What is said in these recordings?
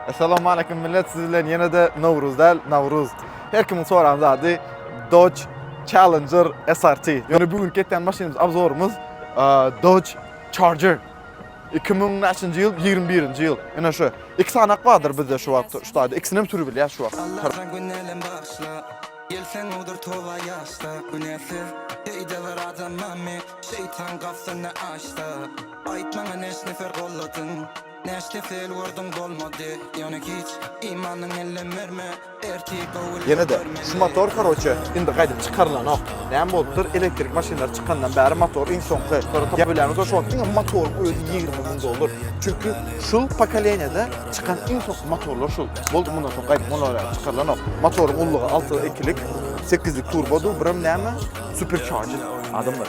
Assalamualeýkum millet siz bilen ýene-de Nowruz däl, Nawruz. Her kimiň soran zady Dodge Challenger SRT. Ýöne bu gün ketýän maşynymyz abzorymyz Dodge Charger. 2000 näçinji ýyl? 21-nji ýyl. Ene şu. Iki sany bardyr bizde şu wagt şu taýda. Ikisini hem sürüp bilýär şu wagt. Gelseň odur towa ýaşda Günäsiz deýde bir adam mami Şeýtan gafsynda aşda Aýt maňa neş nefer golladyň Näçe sel gördüň bolmady ýöne hiç Imanyň ellem berme ertir gowul Ýene de şu motor karoçe indi gaýdyp çykarylanok. Näme bolupdyr elektrik maşynlar çykandan bäri motor iň soňky ýa bilemizok şu wagt diňe motoryň özi ýigrimi müň dollar çünki şul pokoleniýada çykan iň soňky motorlar şul boldy mundan soň gaýdyp mundan bäri çykarylanok motoryň ullugy alty ikilik sekizlik turbodyr birem näme supercharger adamlar.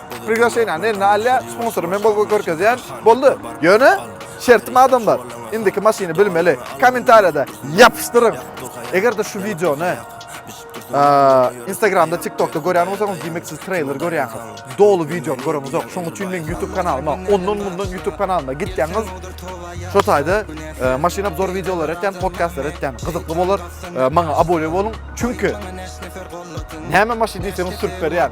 Priglasheniýany eline alýar, sponsory men bolup görkezýän. Boldy. Ýöne şertim adamlar, indiki maşyny bilmeli. Kommentariýada ýapyşdyryň. Eger-de şu wideony Instagramda, TikTokda görýän bolsaňyz, diýmek siz treyler görýäňiz. Doly video görüňiz ok. Şoň üçin meň YouTube kanalyma, ondan mundan YouTube kanalyma gitýäňiz. Şo taýda maşyn obzor videolar etýän, podcastlar etýän gyzykly bolar. Maňa abone boluň. Çünki näme maşyn diýseňiz sürüp berýän.